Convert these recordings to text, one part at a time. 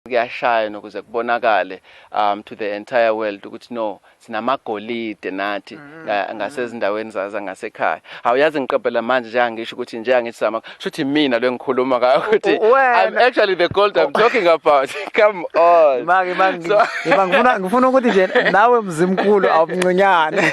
kuyashaya nokuze kubonakale um to the entire world ukuthi no sinamagolide nathi mm-hmm. ngasezindaweni zaza ngasekhaya awuyazi ngiqaphela manje nje angisho ukuthi nje angithi sama shuthi mina lengikhuluma ngayo ukuthi i'm actually the gold i'm talking about come on manje manje ngifuna ngifuna ukuthi nje nawe mzimkhulu awumncinyane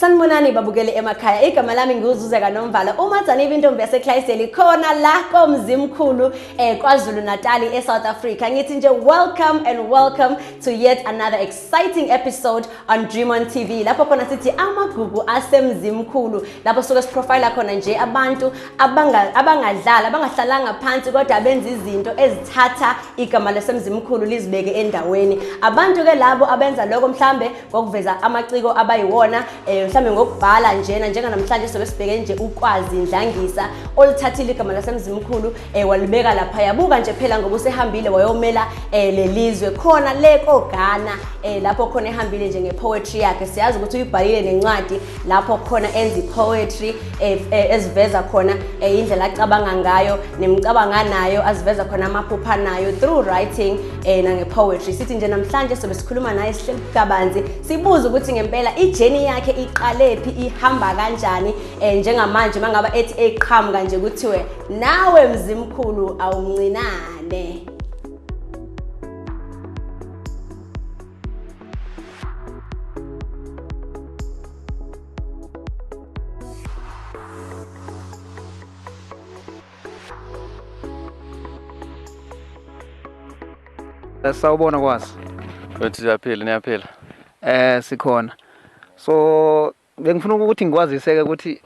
Sanibonani babukeli emakhaya igama lami ngiwuzuze kanomvala uma dzanibe intombi yaseClydesdale khona la komzimkhulu eh KwaZulu Natal eSouth Africa ngithi nje welcome and welcome to yet another exciting episode on Dream on TV lapho khona sithi amagugu asemzimkhulu lapho suke siprofile khona nje abantu abangadlala abangahlalanga phansi kodwa benza izinto ezithatha igama lesemzimkhulu lizibeke endaweni abantu ke labo abenza lokho mhlambe ngokuveza amaciko abayiwona um mhlawumbe ngokubhala njena njenganamhlanje sobe sibheke nje ukwazi ndlangisa olithathile igama lasemzimkhulu um eh, walibeka lapha yabuka nje phela ngoba usehambile wayomela um eh, lelizwe khona le kogana um lapho khona ehambile nje ngepoetry yakhe siyazi ukuthi uyibhalile nencwadi lapho khona enza i-poetry eh, eh, eziveza khona eh, indlela acabanga ngayo nemicabango anayo aziveza khona amaphupha anayo through writing um nange-poetry sithi nje namhlanje sobe sikhuluma naye sihleli kabanzi sibuze ukuthi ngempela ijeni yakhe iqalephi ihamba kanjani um njengamanje uma ngaba ethi eqhamuka nje kuthiwe nawe mzimkhulu awumncinane sawubona kwazi wethu siyaphila niyaphila eh sikhona so bengifuna ukuthi ngikwaziseke ukuthi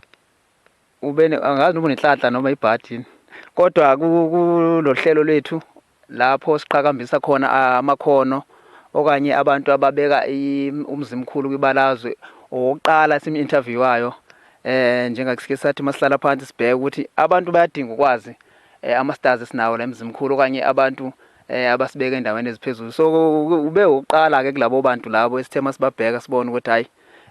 ube angazi noma unenhlanhla noma ibhadi kodwa kulohlelo lwethu lapho siqhakambisa khona amakhono okanye abantu ababeka umzimkhulu kwibalazwe owokuqala simu-interviewayo eh njengakusike sathi masihlala phansi sibheke ukuthi abantu bayadinga ukwazi eh, ama-stars esinawo la emzimkhulu okanye abantu eh abasibeka endaweni eziphezulu so ube uqala ke kulabo bantu labo esithe masibabheka sibone ukuthi hayi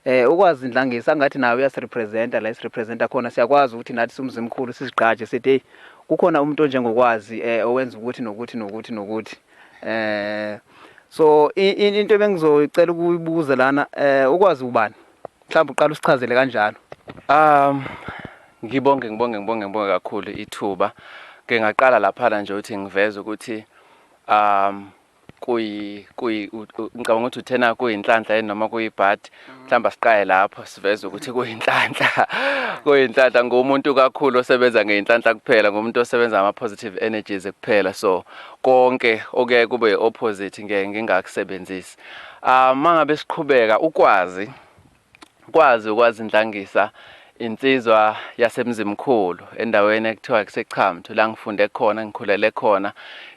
Eh ukwazi Ndlangisa ngathi nawe uyasirepresenta la isirepresenta khona siyakwazi ukuthi nathi sumzimkhulu sizigqaje sithi hey kukhona umuntu onjengokwazi eh owenza ukuthi nokuthi nokuthi nokuthi eh so into ebengizoyicela ukuyibuza lana eh ukwazi ubani mhlawumbe uqala usichazele kanjalo um ngibonge ngibonge ngibonge ngibonge kakhulu ithuba ke ngaqala lapha nje ukuthi ngiveze ukuthi um kuyi kuyi ngicabanga ukuthi uthena kuyinhlanhla yini noma kuyibhadi mhlawumbe asiqaye lapho siveze ukuthi kuyinhlanhla kuyinhlanhla ngumuntu kakhulu osebenza ngeyinhlanhla kuphela ngumuntu osebenza ama positive energies kuphela so konke okuyaye kube opposite ngeke ngingakusebenzisi ah mangabe siqhubeka ukwazi kwazi ukwazindlangisa insizwa yaseMzimkhulu endaweni ekuthiwa kuseChamthu la ngifunde khona ngikhulele khona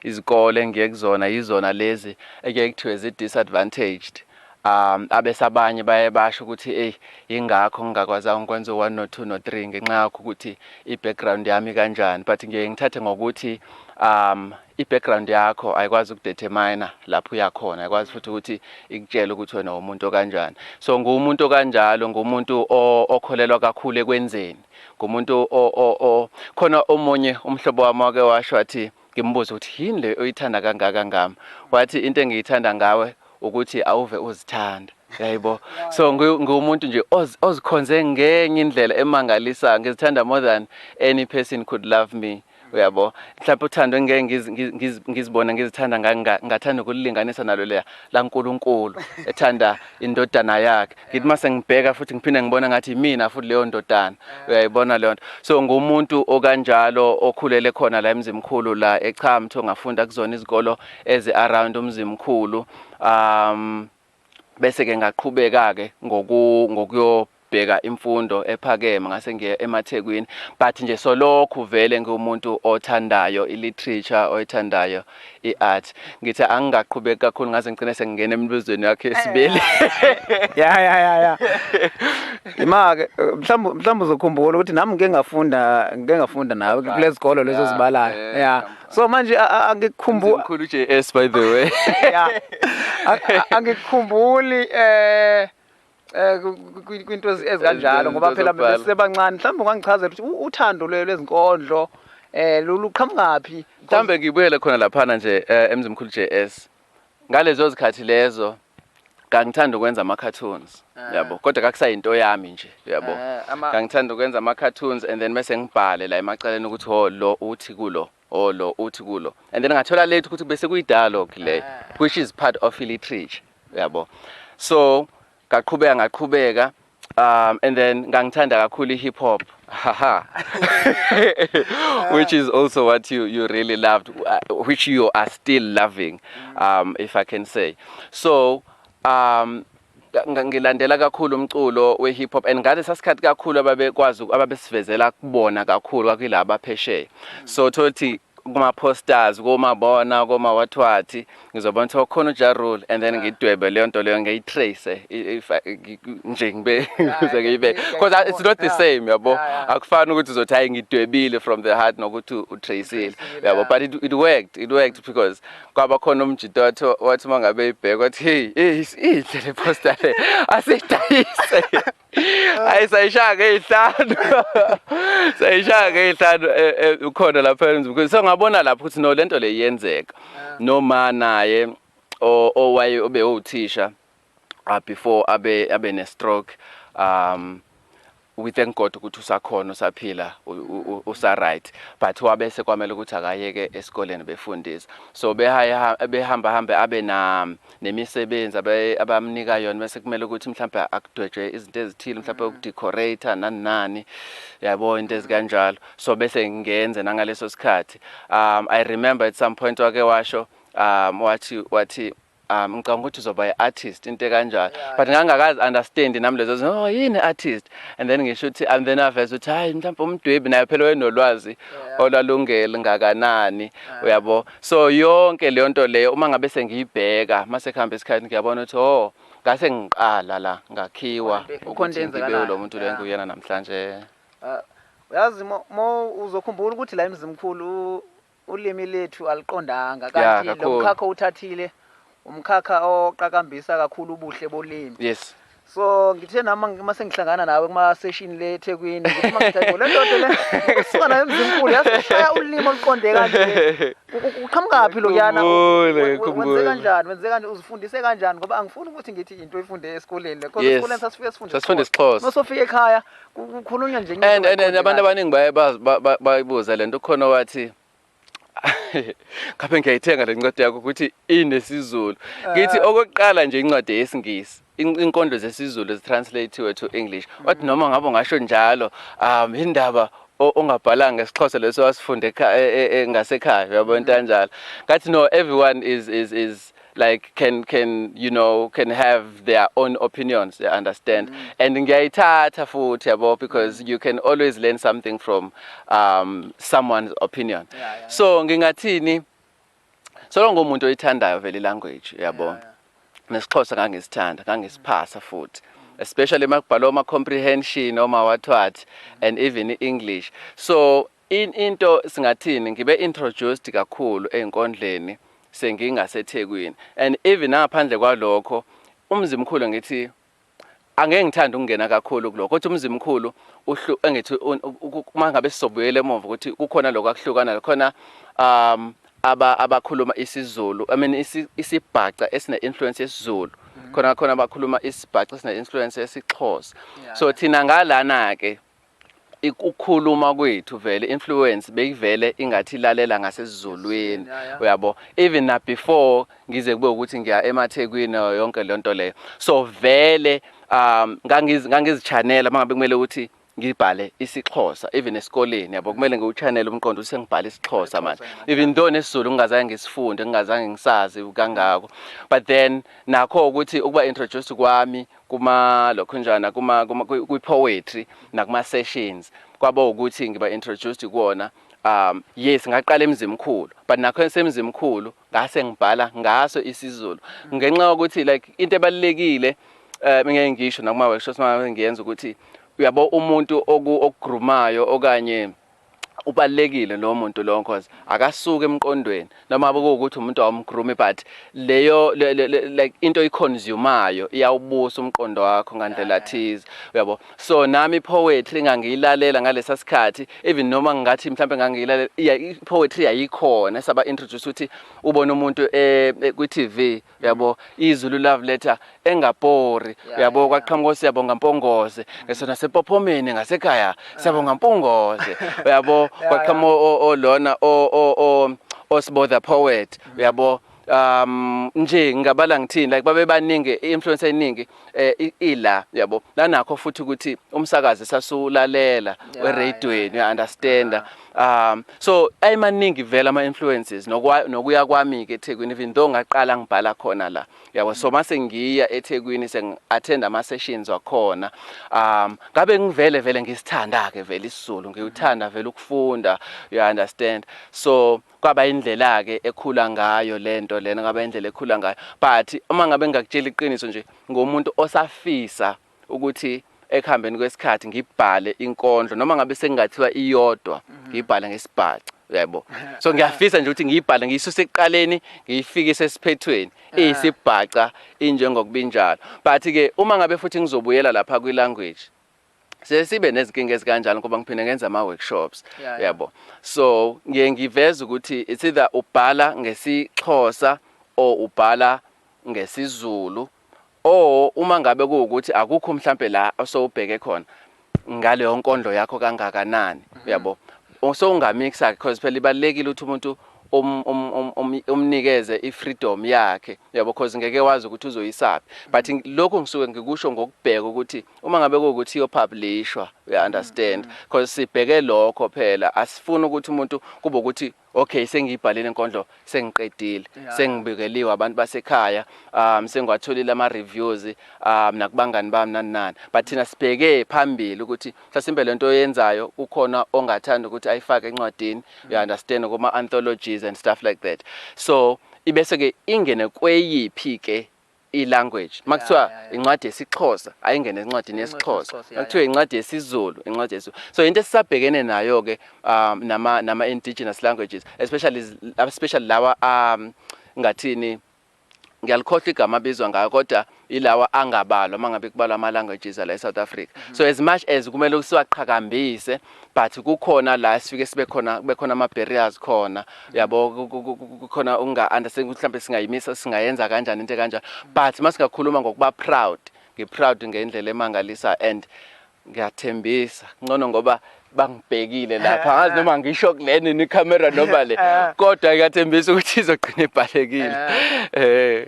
izikole engiye kuzona yizona lezi ekuye kuthiwe zi-disadvantaged um abesabanye baye basho ukuthi eyi yingakho ngingakwazanga ukwenza u-one no-two no-three ngenxa yakho ukuthi i-background yami kanjani but ngiye ngithathe ngokuthi um I-background yakho ayikwazi ukudeterminer lapho uya khona, ayikwazi futhi ukuthi ikutshele ukuthi wena umuntu okanjani. So nguwumuntu okanjalo, nguwumuntu okholelwa kakhulu ekwenzeni, ngumuntu o, o, o. Khona omunye umhlobo wami wake washo wathi, ngimbuza ukuthi yini le oyithanda kangaka ngami? Wathi into engiyithanda ngawe ukuthi awuve uzithanda. Yayibo. So nguwumuntu nje ozikhonze ngenye indlela emangalisayo. Ngizithanda more than any person could love me. Uyabo? Mhlawumbe uthando engeke ngiz- ngiz- ngiz- ngizibone ngizithanda nga- nga- ngathanda ukulilinganisa nalo leya laNkulunkulu ethanda indodana yakhe. Ngithi uma sengibheka futhi ngiphinde ngibona ngathi yimina futhi leyo ndodana. Uyayibona leyo nto. So ngumuntu okanjalo okhulele khona la eMzimkhulu la eChamtho ngafunda kuzona izikolo ezi around uMzimkhulu. Um bese ke ngaqhubeka ke ngoku ngokuyo ngibheka imfundo ephakeme ngase ngiye emaThekwini but nje solokhu vele ngiwumuntu othandayo iliterature oyithandayo iart ngithi angingaqhubeki kakhulu ngaze ngicine sengingena emibuzweni yakhe esibili ya ya ya ya imake mhlawumbe mhlawumbe uzokhumbula ukuthi nami ngike ngafunda ngike ngafunda nawe kulezikolo lezo zibalayo ya so manje angikukhumbuli mkhulu JS by the way yeah angikukhumbuli eh eh kwinto ezikanjalo ngoba phela besebancane mhlawumbe ungangichazela ukuthi uthando lwezinkondlo eh luqhamukaphi mhlambe ngibuyele khona laphana nje eh, emzimkhulu JS Ngalezo zikhathi lezo ngangithanda ukwenza ama cartoons ah. yabo kodwa kakusayinto yami nje yabo ah, ngangithanda ukwenza ama cartoons and then mase ngibhale la emacaleni ukuthi ho oh, lo uthi kulo ho oh, lo uthi kulo and then ngathola late ukuthi bese kuyi dialogue le ah. which is part of literature yabo so ngaqhubeka ngaqhubeka um and then ngangithanda kakhulu i-hip hop haha which is also what you, you really loved uh, which you are still loving um, if i can say so um, ngilandela kakhulu umculo we-hip hop and ngale sasikhathi kakhulu ababekwazi ababesivezela kubona kakhulu kwakuyilaba phesheya so tholuthi kuma posters koma bona koma what what ngizobona ukuthi okhona uJa Rule and then ngidwebe leyo nto leyo ngiyi trace if nje ngibe kuze ngibe because it's not the same yabo akufani ukuthi uzothi hayi ngidwebile from the heart nokuthi utracile yabo but it, it worked it worked because kwaba khona umjito wathi wathi mangabe ibheka wathi hey hey inhle le poster le asidayise hayi sayishaya ngey'hlanu sayishaya ngey'hlanu eh, eh, ukhona lapha emzimkhulu so ngabona lapho ukuthi no lento le iyenzeka noma naye o- owaye obe uthisha uh, before abe abe ne stroke um we thank God ukuthi usakhona usaphila u- u- u- usaright but wabese kwamele ukuthi akayeke esikoleni befundisa so behaye behamba hambe abe na nemisebenzi abaye abamnika yona mase kumele ukuthi mhlawumbe akudwetshwe izinto ezithile mhlawumbe ukudecorate nani nani yabo into ezikanjalo so bese ngenze nangaleso sikhathi um i remember at some point wake washo um wathi wathi um ngicabanga ukuthi uzoba i-artist into ekanjalo but ngangakazi understand nami lezo zinto oh yini artist and then ngisho ukuthi and then aveza ukuthi hayi mhlawumbe umdwebi naye phela wayenolwazi olwalungeli ngakanani uyabo So yonke leyo nto leyo uma ngabe sengiyibheka mase kuhamba isikhathi ngiyabona ukuthi oh ngase ngiqala la ngakhiwa Khona into- khona into ukuthi ngibe enzakalayo. lo muntu lo Yeah. engiyena namhlanje. Ah, uyazi mo- mo uzokhumbula ukuthi la emzimkhulu u- ulimi lethu aliqondanga Yeah, kanti lo kakhulu. mkhakha uthathile umkhakha oqakambisa kakhulu ubuhle bolimi yes so ngithe nami ngi- uma sengihlangana nawe kuma-session le ethekwini ngithi uma ngithi, "Hayibo, le ndoda le usuka nayo emzimkhulu yasishaya ulimi oluqonde kanje U- u- uqhamukaphi lokuyana U- Ngikhumbule, we- we- wenze ngikhumbule. kanjani wenze kanjani uzifundise kanjani ngoba angifuni ukuthi ngithi into oyifunde esikoleni le Yes. kodwa esikoleni sasifike sifunde Sasifunda isiXhosa. uma sofika ekhaya ku- kukhulunywa nje and and and abantu abaningi baye baz- ba- ba- bayibuza lento khona wathi ngabe ngiyayithenga le ncwadi yakho ukuthi inesizulu ngithi ah. okokuqala nje incwadi yesingisi inkondlo zesizulu zitranslatiwe to english mm. wathi noma ngabe ngasho njalo um indaba ongabhalanga isixhosa leso wasifunde e, e, e, ngasekhaya uyabona into mm. kanjalo ngathi no everyone is is is like can can you know can have their own opinions you understand mm. and ngiyayithatha futhi yabo because mm. you can always learn something from um someone's opinion yeah, yeah, yeah. so ngingathini solo ngomuntu oyithandayo vele language yabo yeah, yeah. nesixhosa ngangisithanda ngangisiphasa futhi especially makubhalwa ama comprehension oma wathwathi and even english so In into singathini ngibe introduced kakhulu ezinkondleni sengingase Thekwini and even nangaphandle kwalokho uMzimkhulu ngithi angeke ngithande ukungena kakhulu kulokho kodwa uMzimkhulu uhlu engithi mangabe sizobuyela emuva ukuthi kukhona lokho akuhlukana lakhona um aba abakhuluma isiZulu I mean isi, isibhaca esine influence yesiZulu mm-hmm. khona khona abakhuluma isibhaca esine influence yesiXhosa yeah. so thina ngalana ke ukukhuluma kwethu vele influence beyivele ingathi lalela ngasesizulwini uyabo even na before ngize kube ukuthi ngiya emathekwini yonke le nto leyo so vele um ngangizichanela uma ngabe kumele ukuthi ngibhale isixhosa even esikoleni yabo kumele ngiwuchannel umqondo ukuthi sengibhala isixhosa manje even though nesizulu ngingazange ngisifunde ngingazange ngisazi kangako but then nakho ukuthi ukuba introduced kwami kuma lokhunjana kuma, kuma kwi poetry nakuma sessions kwaba ukuthi ngiba introduced kuwona um yes ngaqala emzimkhulu but nakho esemzimkhulu ngase ngibhala ngaso isizulu ngenxa yokuthi like into ebalekile eh ngeke ngisho nakuma workshops uma ngiyenza ukuthi uyabo umuntu okugrumayo okanye ubalekile lowo muntu lowo cause akasuka emqondweni noma bekuwukuthi umuntu awumgroomi but leyo le, le, le, like into iconsumayo iyawubusa umqondo wakho ngandlela thize uyabo so nami poetry ngangiyilalela ngalesa sikhathi even noma ngingathi mhlawumbe ngangiyilalela poetry yayikhona saba introduce ukuthi ubona umuntu eh, eh kwi-TV uyabo izulu love letter engabhori uyabo kwaqhamuka osiyabonga mpongoze ngeso nasepophomeni ngasekhaya siyabonga mpongoze uyabo kwaqhamuka olona o o o osibodha poet uyabo um nje ngingabala ngithini like babebaningi influence eningi eh, ila yabo nanakho futhi ukuthi umsakazi sasulalela eradioweni uya understand um so ayimaningi vela ama influences nokuya kwami ke eThekwini even though ngaqala ngibhala khona la yabo so mase ngiya eThekwini seng attend ama sessions wakhona um ngabe ngivele vele ngisithanda ke vele isiZulu ngiwuthanda vele ukufunda you understand so Kwaba indlela-ke ekhula ngayo lento lena, kwaba indlela ekhula ngayo. But uma ngabe ngingakutshela iqiniso nje, ngumuntu osafisa ukuthi ekuhambeni kwesikhathi ngibhale inkondlo noma ngabe sekungathiwa iyodwa mhm. ngibhale ngesibhaca uyaybo so ngiyafisa nje ukuthi ngiyibhale ngiyisuse ekuqaleni ngiyifikise esiphethweni ah. iyisibhaca injengokubinjalo but ke uma ngabe futhi ngizobuyela lapha kwi language siye sibe nezinkinga ezikanjalo ngoba ngiphinde ngenza ama workshops yabo so ngiye ngiveza ukuthi it's either ubhala ngesixhosa or ubhala ngesizulu or uma ngabe kuwukuthi akukho mhlambe la osowubheke khona ngaleyo nkondlo yakho kangakanani mhm. uyabo so ungamixa because phela ibalekile ukuthi umuntu um, um, um, um, umnikeze ifreedom yakhe uyabo because ngeke wazi ukuthi uzoyisaphi but lokho ngisuke ngikusho ngokubheka ukuthi Uma ngabe kuwukuthi iyopublishwa uya mm, understand mm. because sibheke lokho phela asifuni ukuthi umuntu kube ukuthi okay sengiyibhalile inkondlo sengiqedile sengibikeliwe abantu basekhaya um sengiwatholile ama reviews um nakubangani bami nani nani but thina sibheke phambili ukuthi mhlasimbe lento oyenzayo kukhona ongathanda ukuthi ayifake encwadini mm. you understand kuma anthologies and stuff like that so ibese ke ingene kweyiphi ke i-language makuthiwa incwadi yesiXhosa ayingene encwadini yesiXhosa makuthiwa incwadi yesiZulu incwadi yesiZulu so into esisabhekene nayo ke um nama nama indigenous languages especially especially lawa um ngathini ngiyalikhohlwa igama abizwa ngayo kodwa ilawa angabalwa mangabe kubalwa ama languages la eSouth Africa so as much as kumele siwaqhakambise but kukhona la sifike sibe khona kube khona ama barriers khona yabo kukhona unga understand ukuthi mhlawumbe singayimisa singayenza kanjani into kanjani but masingakhuluma ngokuba proud ngi proud ngendlela emangalisa and ngiyathembisa ngcono ngoba bangibhekile lapha eh, ngazi eh. noma ngisho kuleni ni camera noma le eh. kodwa ngiyathembisa ukuthi izogcina ibhalekile eh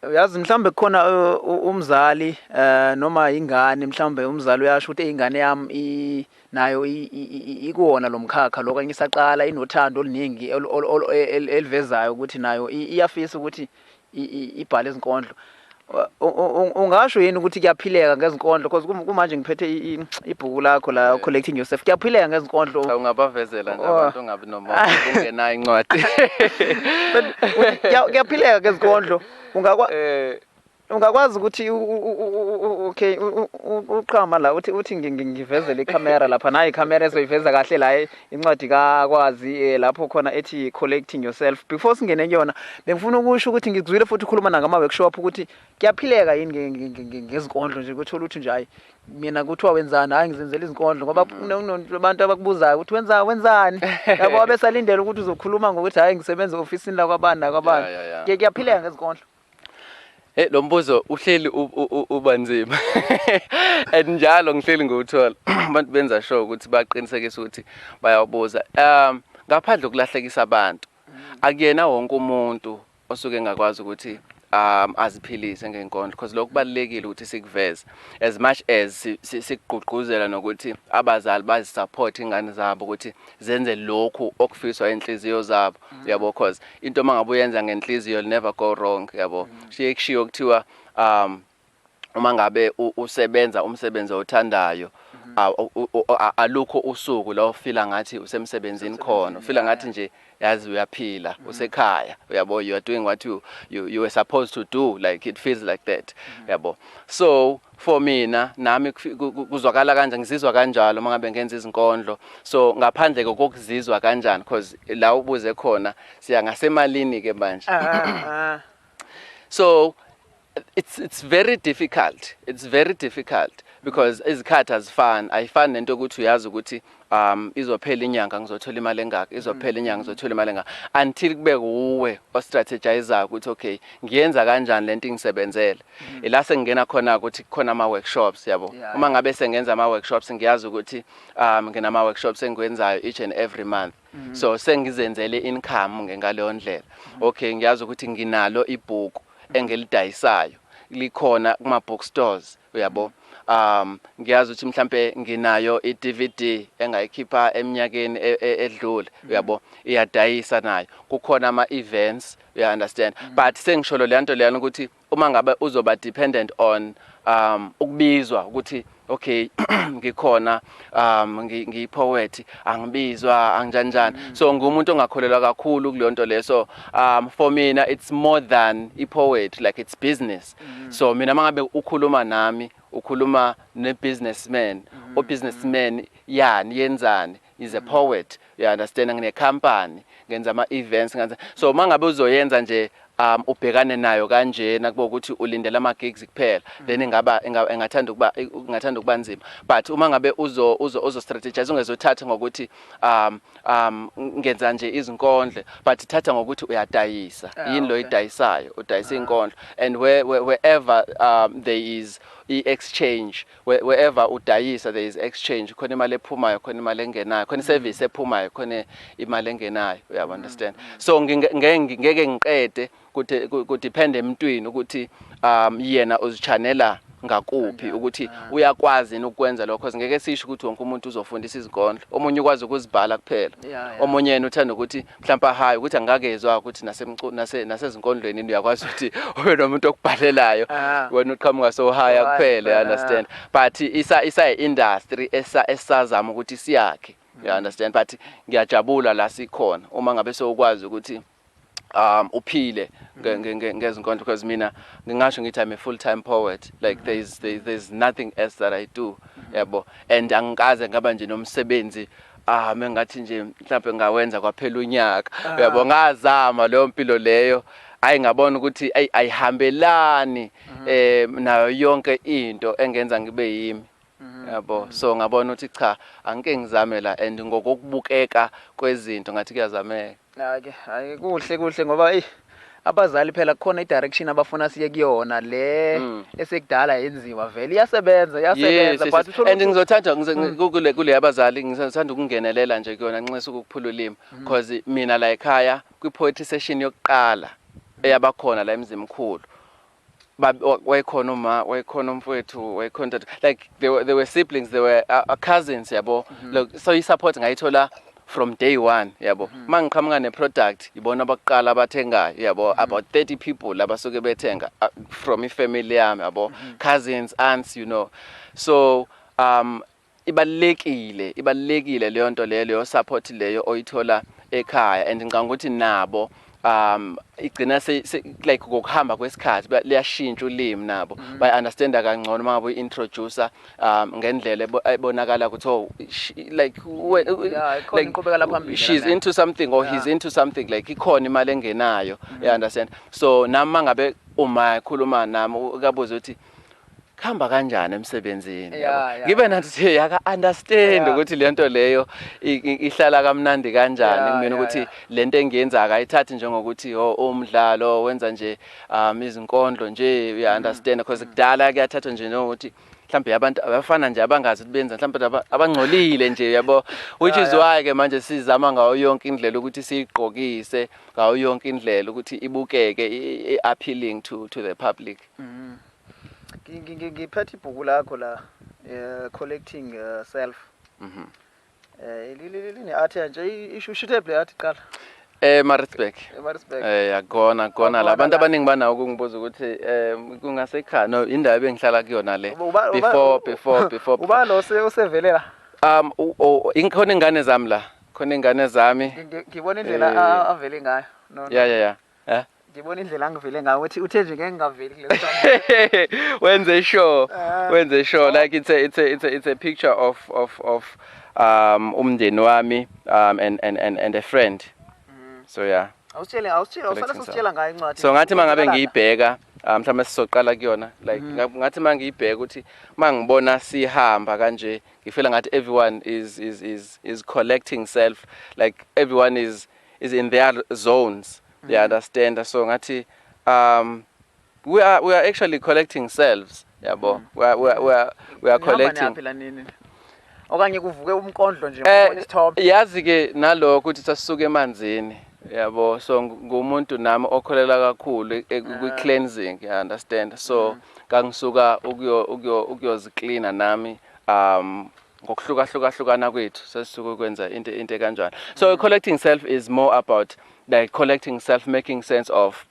Uyazi mhlawumbe kukhona umzali eh noma ingane mhlawumbe umzali uyasho ukuthi ingane yami nayo ikuwona lomkhakha lokho ngisaqala inothando oluningi elivezayo ukuthi nayo iyafisa ukuthi ibhale izinkondlo ungasho yini ukuthi kuyaphileka ngezinkondlo because kumanje ngiphethe ibhuku lakho la collecting yourself kuyaphileka ngezinkondlo ungabavezela nje abantu ongabi ungenayo incwadi kuyaphileka ke zikondlo ungakwa eh ungakwazi ukuthi okay uqhama la uthi uthi ngivezele ikhamera lapha nayi ikhamera ezoyiveza kahle la incwadi kakwazi eh, lapho khona ethi collecting yourself before singene kuyona bengifuna ukusho ukuthi ngikuzwile futhi ukhuluma nangama workshop ukuthi kuyaphileka yini ngezikondlo nje kuthola ukuthi nje hayi mina kuthiwa wenzani hayi ngizenzela izinkondlo ngoba kunabantu abakubuzayo ukuthi wenza wenzani yabo wabesalindele ukuthi uzokhuluma ngokuthi hayi ngisebenza e-ofisini lakwabani nakwabani Ya, ya, ya. Ke- kuyaphileka ngezinkondlo Hey lo mbuzo uhleli u- u- u- uba nzima. And njalo ngihleli ngiwuthola. Abantu benza sure ukuthi baqinisekise ukuthi bayawabuza. Um ngaphandle kokulahlekisa abantu. Akuyena wonke umuntu osuke engakwazi ukuthi um aziphilise ngenkondlo because lokho kubalekile ukuthi sikuveze as much as sikugqugquzela nokuthi abazali bazisupport ingane zabo ukuthi zenze lokhu okufiswa inhliziyo zabo mm. yabo because into mangabe uyenza ngenhliziyo never go wrong yabo mm. shiye kushiyo kuthiwa um uma ngabe usebenza umsebenzi othandayo alukho usuku la ufila ngathi usemsebenzini khona ufila ngathi nje yazi uyaphila mm. usekhaya uyabo you are doing what you, you, you were supposed to do like it feels like that mm. uyabo so for mina nami kuzwakala kanjani ngizizwa kanjalo uma ngabe ngenza izinkondlo so ngaphandle kokuzizwa kanjani because la ubuze khona siya ngasemalini-ke manje ah, ah, ah. so It's it's very difficult. It's very difficult because izikhathi azifani. Ayifani nento ukuthi uyazi ukuthi um izophela inyanga ngizothola imali engaka, izophela inyanga ngizothola imali engaka until kube uwe o strategizer ukuthi okay, ngiyenza kanjani lento ingisebenzele. Mm. Ila sengena khona ukuthi khona ama workshops yabo. Uma ngabe sengenza ama workshops ngiyazi ukuthi um nginama workshops engiwenzayo each and every month. Mm. So sengizenzele income ngaleyo ndlela. Mm. Okay ngiyazi ukuthi nginalo ibhuku mm. engilidayisayo. Likhona kuma bookstores uyabo. Um ngiyazi ukuthi mhlambe nginayo i DVD engayikhipha eminyakeni e, e, edlule uyabo iyadayisa nayo. Kukhona ama events you understand. But sengisholo le nto leyana ukuthi Uma ngabe uzoba dependent on um ukubizwa ukuthi okay ngikhona um ngiyipoet angibizwa angijanjani mm. so ngumuntu ongakholelwa kakhulu kulonto leso um for mina it's more than i poet like it's business mm. so mina mangabe ukhuluma nami ukhuluma ne businessman mm. o businessman yani yenzani is a poet you understand ngine company ngenza ama events ngenza so mangabe uzoyenza nje um ubhekane nayo kanjena kuba ukuthi ulindela ama gigs kuphela mm. then ingaba engathanda ukuba engathanda ukuba nzima but uma ngabe uzo uzo uzo strategize ungezothatha ngokuthi um um ngenza nje izinkondle but thatha ngokuthi uyadayisa ah, yini lo idayisayo udayisa ah. inkondlo and where, where wherever um there is i exchange Where, wherever udayisa there is exchange khona imali ephumayo khona imali engenayo khona iservice ephumayo khona imali engenayo you have understand so nginge- nge- ngeke ngiqede kuthi ku- ku depend emntwini ukuthi um yena uzichanela ngakuphi ukuthi uyakwazi yini ukwenza lokho Cause ngeke sisho ukuthi wonke umuntu uzofundisa izinkondlo omunye ukwazi ukuzibhala kuphela Yeah, yeah. omunye yena uthanda ukuthi mhlawumbe ahayi ukuthi angakezwa ukuthi nasezinkondlweni nase uyakwazi ukuthi ube nomuntu okubhalelayo ah. wena uqhamuka so high kuphela you understand but isa isa industry esa esazama ukuthi siyakhe you mm. understand but ngiyajabula la sikhona uma ngabe sokwazi ukuthi um uphile mm. ngezinkondlo because mina ngingasho ngithi I'm a full time poet like mm. there's there's nothing else that I do yebo and angikaze ngaba nje nomsebenzi ah mengathi nje mhlawumbe ngawenza kwaphela unyaka ah. uyabo ngazama leyo mpilo leyo ayi ngabona ukuthi ayi ayihambelani mhm. eh nayo yonke into engenza ngibe yimi mhm. yabo mhm. so ngabona ukuthi cha angike ngizamela and ngokokubukeka kwezinto ngathi kuyazameka Hake hake kuhle kuhle ngoba ey abazali phela kukhona idirection abafuna siye kuyona le mm. esekudala yenziwa vele iyasebenza iyasebenza yes, but yes. and ngizothanda mm. kule kule yabazali ngizothanda ukungenelela nje kuyona nxesa ukuphula ulimi mm. because mina la ekhaya kwi poetry session yokuqala eyabakhona la emzimkhulu wayekhona uma wayekhona umfowethu wayekhona ntathu like they were, they were siblings they were uh, uh, cousins yabo mm -hmm. like, so i-support ngayithola from day one yabo mm -hmm. mangiqhamuka ne-product yibona abakuqala abathengayo yabo mm -hmm. about 30 people abasuke bethenga uh, from ifamily yami yabo mm -hmm. cousins aunts you know so um Ibalulekile ibalulekile leyonto leyo leyo support leyo oyithola ekhaya and ngicabanga ukuthi nabo um igcina se, se like ngokuhamba kwesikhathi liyashintsha ulimi nabo mm -hmm. by understanda kangcono uma ngabe introduce um ngendlela ebonakala ukuthi oh she, like we, yeah, like iqhubekela phambili she's nana. into something or yeah. he's into something like ikhona imali engenayo mm -hmm. you understand so nami mangabe uma ekhuluma nami ukabuza ukuthi kuhamba kanjani emsebenzini ngibe nathi siye yaka understand ukuthi lento leyo ihlala kamnandi kanjani kumina ukuthi lento engiyenza akayithathi njengokuthi ho oh, umdlalo wenza nje um izinkondlo nje uya understand because kudala kuyathathwa nje nokuthi mhlawumbe abantu abafana nje abangazi ukuthi benza mhlawumbe abangcolile nje yabo which is why ke manje sizama ngayo yonke indlela ukuthi siyigqokise ngayo yonke indlela ukuthi ibukeke i-appealing to to the public Mhm. Ngiphethe ibhuku lakho la eh, collecting eh, self. Mhm. Eh lilini art nje isho ushithe play art qala. Eh Maritzburg. Maritzburg. Eh yakona kona la abantu abaningi banawo kungibuza ukuthi eh kungase cha no indawo ebengihlala kuyona le before before before. Uba lo sevelela. Um inkhona ingane zami la. Khona ingane zami. Ngibona indlela eh, avele ngayo. No. Yeah yeah yeah. Eh? Ngibona indlela angivile ngayo ukuthi uthe nje ngeke ngaveli kule song. Wenze sure. Eh. Wenze sure like it's a it's a it's a, it's a picture of of of um umndeni wami um and and and and a friend. Mm. So yeah. Awusitshele awusitshele awusale Collecting sositshela ngayo incwadi. So ngathi mangabe Uqala- ngiyibheka ah, mhlawumbe sizoqala kuyona like Mm. nga- ngathi mangiyibheka ukuthi mangibona sihamba kanje ngifeel ngathi everyone is is is is collecting self like everyone is is in their zones mm. you understand so ngathi um we are we are actually collecting selves yabo mm. we are we are we are, we are collecting okanye kuvuke umkondlo nje eh, ubona isithombe yazi ke nalokho ukuthi sasuke emanzini yabo so ngumuntu nami okholela kakhulu e, ah. kwi cleansing you understand so mm. kangisuka ukuyo ukuyo ukuyozicleaner nami um ngokuhlukahlukahlukana kwethu sesisuke kwenza into into kanjalo so mm. collecting self is more about like collecting self making sense of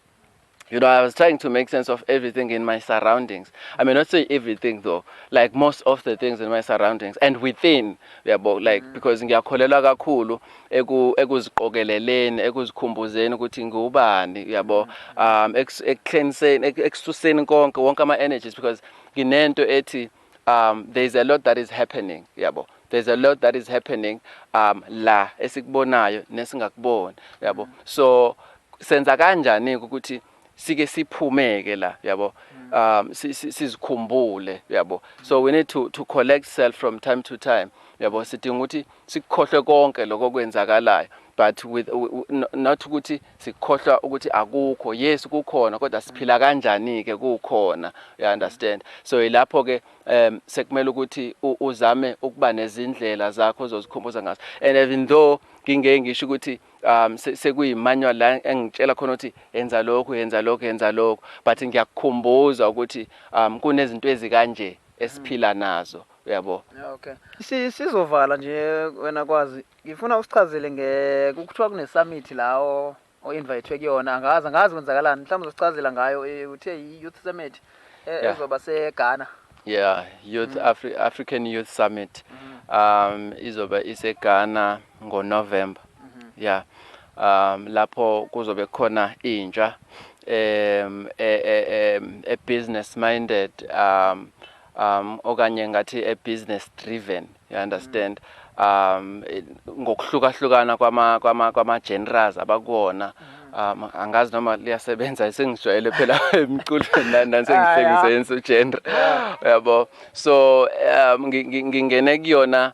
you know i was trying to make sense of everything in my surroundings i may not say everything though like most of the things in my surroundings and within yabo like mm. because ngiyakholelwa kakhulu eku ekuziqokeleleni ekuzikhumbuzeni ukuthi ngubani yabo mm. um ekuhleniseni ekususeni konke wonke ama energies because nginento ethi um there is a lot that is happening yabo there's a lot that is happening um la esikubonayo nesingakuboni yabo so senza kanjani ukuthi sike siphumeke la yabo um sizikhumbule yabo so we need to to collect self from time to time yabo sidinga ukuthi sikukhohlwe konke lokho okwenzakalayo but with not ukuthi sikhohlwa ukuthi akukho yes kukhona kodwa siphila kanjani ke kukhona you understand so ilapho ke um sekumele ukuthi uzame ukuba nezindlela zakho ozozikhumbuza ngazo and even though ngingeke ngisho ukuthi um sekuyimanual la engitshela khona ukuthi yenza lokhu yenza lokhu yenza lokhu but ngiyakukhumbuza ukuthi um kunezinto ezikanje esiphila nazo uyabo okay si sizovala nje wena kwazi ngifuna usichazele nge kuthiwa kune summit lawo o invitwe kuyona angazi angazi kwenzakalani mhlawumbe uzosichazela ngayo eh, uthe i youth summit eh, Yeah. ezoba se Ghana yeah youth mm. Afri African youth summit mm. um izoba iseGhana ngoNovember ya um lapho kuzobe khona intsha um e, e, e, e business minded um um okanye ngathi e business driven you understand um eh, ngokuhlukahlukana kwama kwama kwama genres abakuwona um angazi noma liyasebenza sengijwayele phela emculweni la nansengihlengise yenso genre yabo so um ngi- ngi- ngingene kuyona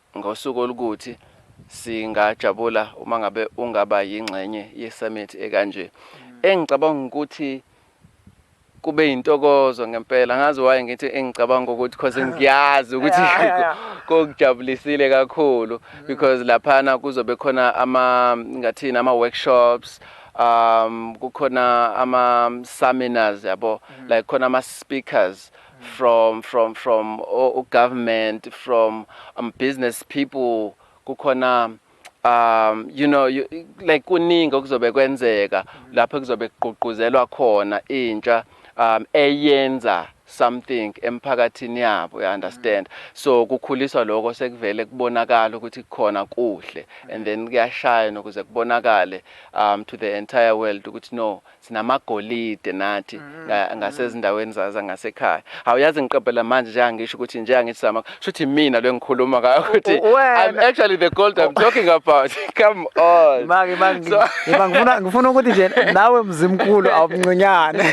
Ngosuku olukuthi singajabula uma ngabe ungaba yingxenye ye-summit ekanje. Engicabanga ukuthi kube yintokozo ngempela ngazi waye ngithi engicabanga ukuthi because ngiyazi ukuthi kokujabulisile kakhulu mm. because laphana kuzobe khona ama ngathini ama workshops um kukhona ama seminars yabo mm. like khona ama speakers from from from u government from um, business people kukhona um you know you, like kuningi okuzobe kwenzeka lapho kuzobe kugqugquzelwa khona intsha um eyenza something emphakathini yabo you understand so kukhuliswa lokho sekuvele kubonakala ukuthi kukhona kuhle and then kuyashayana ukuze kubonakale um to the entire world ukuthi no sinamagolide nathi nga- ngasezindaweni za- zangasekhaya hawu yazi ngiqaphela manje njenga ngisho ukuthi njenga ngithi sama shuthi imina lo engikhuluma ngayo ukuthi U- wena. i'm actually the gold i'm talking about come on Maki maki So- ngiba ngifuna ngifuna ukuthi nje nawe mzimkhulu awumncinyane.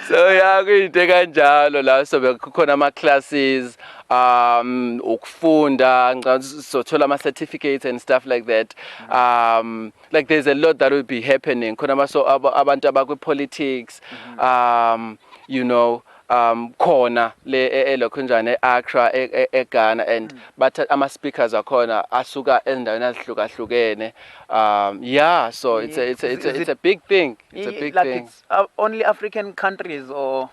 so ya kuyinto ekanjalo la so bekukhona ama classes um ukufunda ngicabanga ukuthi sizothola ama certificates and stuff like that um like there's a lot that will be happening khona baso abantu abakwi politics mm-hmm. um you know um khona le e, e, lokho njane eAccra e, eGhana and mm. bathatha ama speakers akhona asuka endaweni azihlukahlukene um yeah so it's a it's a it's a, it's a big thing it's a big like thing it's uh, only African countries or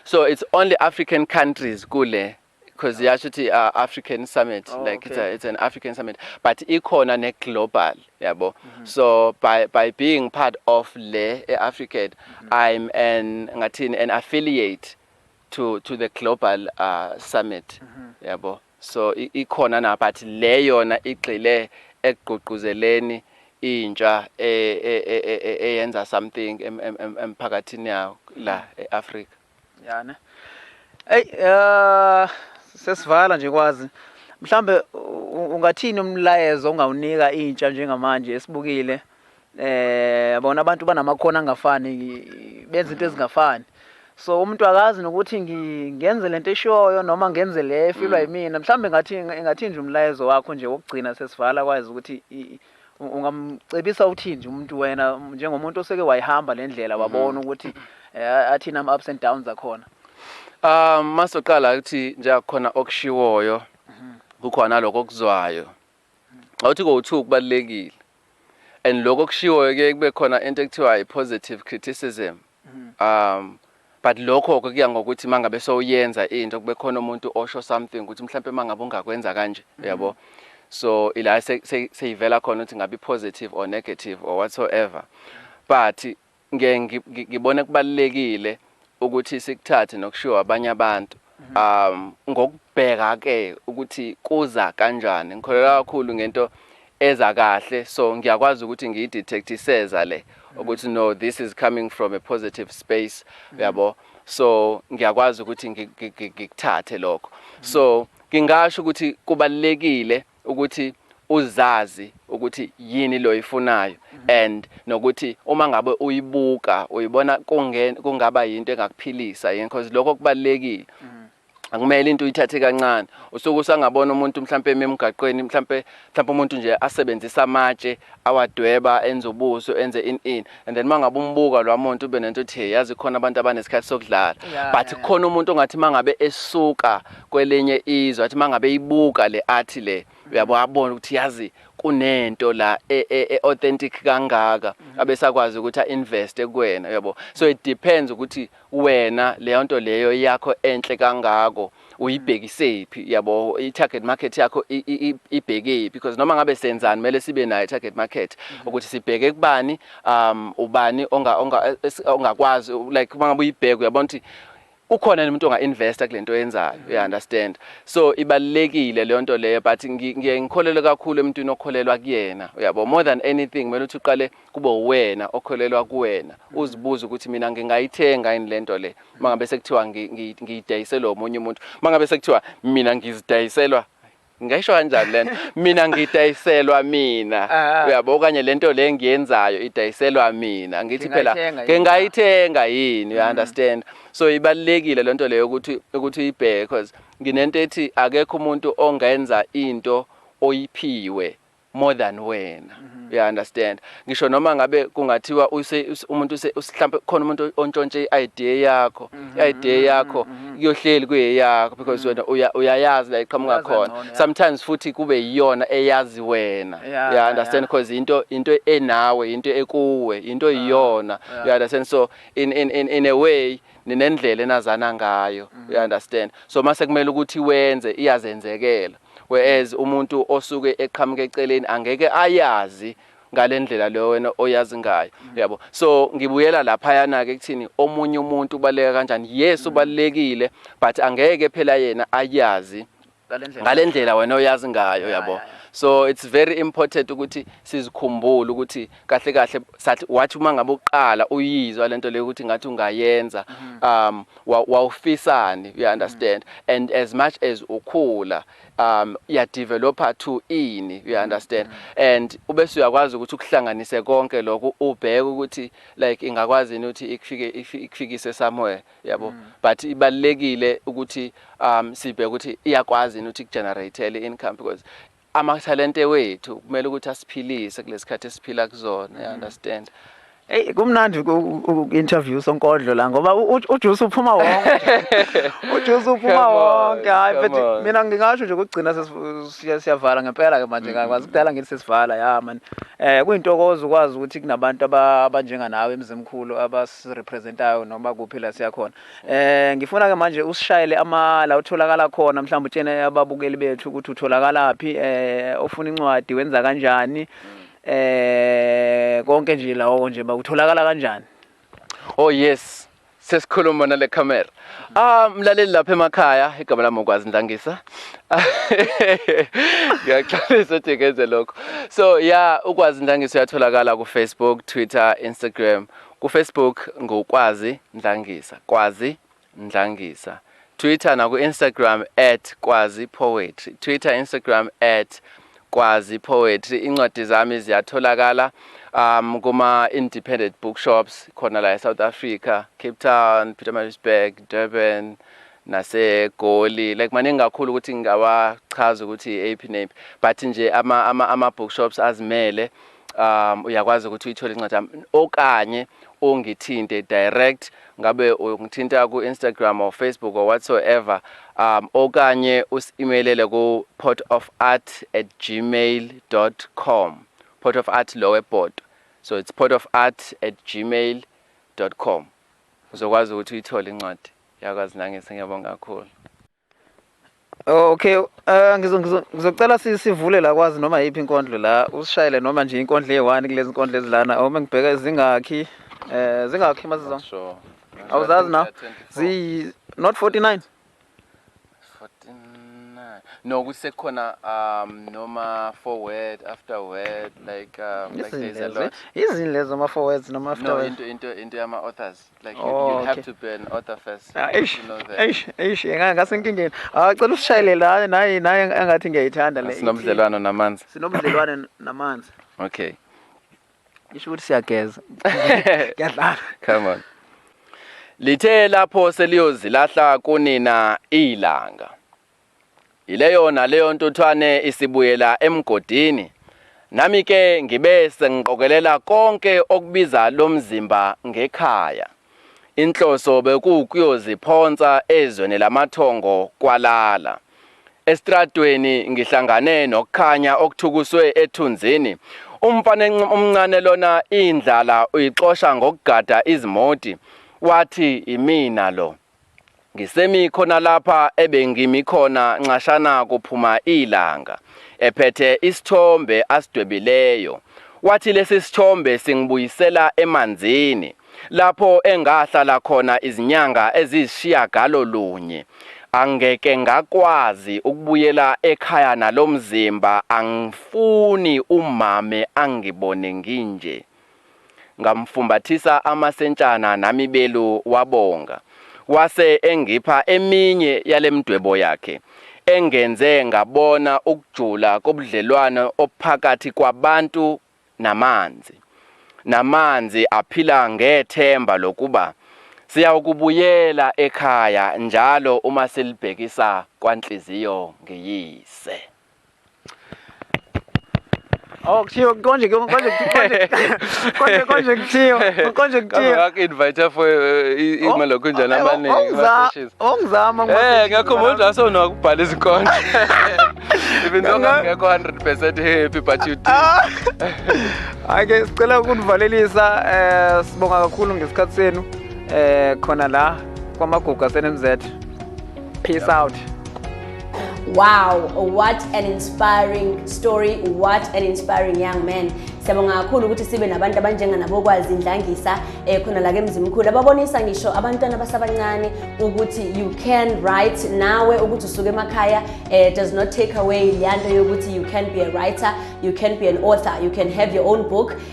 so it's only African countries kule because yasho ukuthi uh, african summit oh, like okay. it's, a, it's an african summit but ikhona ne-global yabo mm -hmm. so by, by being part of le e-african mm -hmm. i'm an ngathini an affiliate to, to the global uh, summit mm -hmm. yabo so ikhona na but le yona igxile ekugqugquzeleni intsha e, e, e, eyenza something emphakathini yawo la e-afrika yana eyi uh, sesivala nje kwazi mhlambe ungathini umlayezo ongawunika intsha njengamanje esibukile eh bona abantu banamakhono angafani benza into ezingafani so umuntu akazi nokuthi ngenze lento eshoyo noma ngenze le efilwa mm. yimina mhlambe ngathi ngathi nje umlayezo wakho nje wokugcina sesivala kwazi ukuthi Ungamcebisa uthini nje umuntu wena njengomuntu oseke wayihamba le ndlela mhm. wabona ukuthi eh, athini ama-ups and downs akhona um masoqala ukuthi njengakukhona okushiwoyo mhm. kukhona lokho okuzwayo awuthi kowu-two kubalulekile and lokho okushiwoyo kuye kube khona into ekuthiwa i-positive criticism Um but lokho ke kuya ngokuthi mangabe sowuyenza into kube khona umuntu osho something ukuthi mhlawumbe mangabe ungakwenza kanje mm-hmm. uyabo so ila seyivela khona ukuthi ngabe positive or negative or whatsoever but ngeke ngibone kubalekile ukuthi sikuthathe nokushiwa abanye abantu um ngokubheka ke ukuthi kuza kanjani ngikholelwa kakhulu ngento eza kahle so ngiyakwazi ukuthi ngiyidetect iseza le ukuthi no this is coming from a positive space uyabo so ngiyakwazi ukuthi ngikuthathe lokho so ngingasho ukuthi kubalekile ukuthi uzazi ukuthi yini lo ifunayo mhm. and nokuthi uma ngabe uyibuka uyibona kungaba yinto engakuphilisa yini because lokho kubalekile mhm. akumele into uyithathe kancane usuke usangabona umuntu mhlambe emgaqweni mhlambe mhlambe umuntu nje asebenzisa amatshe awadweba enze ubuso enze in in and then mangabe umbuka lwamuntu ube nento ethi yazi khona abantu abanesikhathi sokudlala yeah, but yeah. khona umuntu ongathi mangabe esuka kwelinye izwe athi mangabe ibuka le art le uyabo abona ukuthi yazi kunento la e, e, e authentic kangaka mhm. abesakwazi ukuthi a invest kuwena uyabo so it depends ukuthi Wena leyonto leyo yakho enhle kangako uyibhekisephi yabo i target market yakho ibhekephi because noma ngabe senzani mele sibe nayo target market mhm. ukuthi sibheke kubani um ubani onga onga ongakwazi like mangabe uyibheka uyabona ukuthi ukhona umuntu onga investa kulento yenzayo you mhm. understand so ibalekile leyo nto leyo but ngiye ngikholelwe kakhulu emntwini okholelwa kuyena uyabo more than anything mele uthi uqale kube uwena okholelwa kuwena uzibuze ukuthi mina ngingayithenga yini lento le mangabe sekuthiwa ngiyidayiselwa omunye umuntu mangabe sekuthiwa mina ngizidayiselwa ngisho kanjani lento mina ngidayiselwa mina ah. uyabo okanye lento le ngiyenzayo idayiselwa mina ngithi phela ngingayithenga yini you mm. understand so ibalekile lento leyo ukuthi ukuthi uyibheke because nginento ethi akekho umuntu ongenza into oyiphiwe more than wena mm-hmm. uya understand ngisho noma ngabe kungathiwa umuntu mhlambe khona umuntu ontshontshe i-idea yakho mm-hmm. i-idea yakho mm-hmm. kuyohleli kuyeyakho because wena uyayazi la iqhamuka khona sometimes futhi kube yiyona eyazi wena uya understand because into into enawe into ekuwe into ah, iyona uya understand so in in in a way ninendlela enazana ngayo you understand so mase kumele ukuthi wenze iyazenzekela Whereas umuntu osuke eqhamuka eceleni angeke ayazi ngale ndlela leyo wena oyazi ngayo uyabo so ngibuyela laphayana-ke ekuthini omunye umuntu ubaluleka kanjani yes ubalulekile but angeke phela yena ayazi ngale ndlela wena oyazi ngayo yabo so it's very important ukuthi sizikhumbule ukuthi kahle kahle sathi wathi uma ngabe uqala uyizwa lento leyo ukuthi ngathi ungayenza mm. um wawufisani you understand mm. and as much as ukhula um ya developer to ini you mm. understand and ube suyakwazi ukuthi ukuhlanganise konke lokho ubheke ukuthi like ingakwazi ukuthi ikufike ikufikise somewhere yabo but ibalekile ukuthi um sibheke ukuthi iyakwazi ukuthi kugenerate income because amathalente wethu kumele ukuthi asiphilise kulesikhathi esiphila kuzona you understand Hey kumnandi uku-interview sonkondlo la ngoba ujuice uphuma wonke. Ujuice uphuma wonke. Hayi but mina ngingasho nje ukugcina siyavala ngempela ke manje mm-hmm. ngakwazi kudala ngithi sesivala ya man. Eh kuyintokozo ukwazi ukuthi kunabantu abanjenga nawe emzimkhulu abasirepresentayo noma kuphi la siyakhona. Eh ngifuna ke manje usishayele ama la utholakala khona mhlawumbe utshene ababukeli bethu ukuthi utholakala phi eh ofuna incwadi wenza kanjani eh konke nje lawo nje bakutholakala kanjani Oh yes sesikhuluma nale camera ah mlaleli lapha emakhaya igama lami ukwazi ndlangisa ngiyaxolisa ukuthi ngenze lokho so yeah ukwazi ndlangisa uyatholakala ku Facebook Twitter Instagram KuFacebook ngu Kwazi Ndlangisa, Kwazi Ndlangisa. Twitter naku Instagram at Kwazi Poetry, Twitter, Instagram at Kwazi Poetry. Incwadi zami ziyatholakala um, kuma independent bookshops khona la eSouth Africa, Cape Town, Pietermaritzburg, Durban, nasegoli like maningi kakhulu ukuthi ngingawachaza ukuthi eyiphi neyiphi but nje ama-bookshops ama, ama azimele um uyakwazi ukuthi uyithole incwadi yami okanye ungithinte direct ngabe ungithinta ku-instagram or facebook or whatsoever um okanye usi-imelele ku-port of art at gmail com port of art lo webhodo so it's port of art at gmail com uzokwazi ukuthi uyithole incwadi yakwazi nangise ngiyabonga kakhulu Oh, okay uh, ngizocela sivule la kwazi noma yiphi inkondlo la usishayele noma nje inkondlo eyi-one kulezi nkondlo ezilana uma ngibheka zingakhi um eh, zingakhi mazizo sure. awuzazi na ziyi not 49 no ukuthi sekukhona um noma forward after word like um, like there's a lot izini lezo ama forwards noma after no into into into yama authors Like you, oh, you have okay. to be an author first. Ah, eish, eish, eish, ngasenkingeni. Ah, cela usishayele la naye naye engathi ngiyayithanda le. Sinobudlelwano namanzi. Sinobudlelwano namanzi. Okay. Isho ukuthi siyageza. Ngiyadlala. Come on. Lithe lapho seliyozilahla kunina ilanga. Yileyona leyo ntuthwane isibuyela emgodini, nami ke ngibe sengiqokelela konke okubiza lo mzimba ngekhaya. Inhloso bekuwukuyoziphonsa ezweni lamathongo kwaLala. Esitradweni ngihlangane nokukhanya okuthukuswe ethunzini. Umfana omncane lona indlala uyixosha ngokugada izimoti, wathi yimina lo. Ngisemi khona lapha ebengimi khona nxashana kuphuma ilanga, ephethe isithombe asidwebileyo. Wathi lesi sithombe singibuyisela emanzini, lapho engahlala khona izinyanga eziyisishiyagalo lunye. Angeke ngakwazi ukubuyela ekhaya nalomzimba angifuni umame angibone nginje. Ngamfumbathisa amasentshana nami belu wabonga. Wase engipha eminye yalemdwebo yakhe engenze ngabona ukujula kobudlelwano obuphakathi kwabantu namanzi. Namanzi aphila ngethemba lokuba siyawukubuyela ekhaya njalo uma silibhekisa kwanhliziyo ngiyise. Oh, kuthiwa konje ke konje konje konje konje kuthiwa konje kuthiwa ngak invite for imali kunjani abaningi baseshes ongizama eh ngakho manje aso nokubhala izinkondlo even though ngakho 100% happy but you did ah. ake sicela ukunivalelisa eh sibonga kakhulu ngesikhatsi senu eh khona la kwamagugu asenemz peace out Wow, what an inspiring story, what an inspiring young man. Siyabonga kakhulu ukuthi sibe nabantu abanjenga nabokwazi indlangisa eh khona la ke Mzimkhulu ababonisa ngisho abantwana abasabancane ukuthi you can write nawe ukuthi usuke emakhaya eh does not take away leyanto yokuthi you can be a writer, you can be an author, you can have your own book.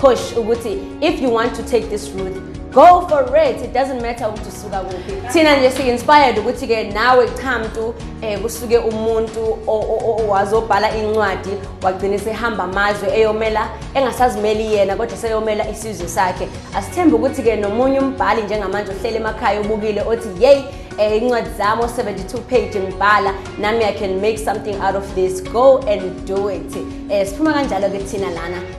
push ukuthi if you want to take this route go for it it doesn't matter ukuthi usuka kuphi thina nje si-inspired ukuthi ke nawe cha mntu um eh, kusuke umuntu wazobhala incwadi wagcine sehamba amazwe eyomela engasazimeli yena kodwa seyomela isizwe sakhe asithembe ukuthi ke nomunye umbhali njengamanje ohlele emakhaya ubukile othi yeyi eh, incwadi zami o-72 page ngibhala nami i can make something out of this go and do it um siphuma kanjalo-ke thina lana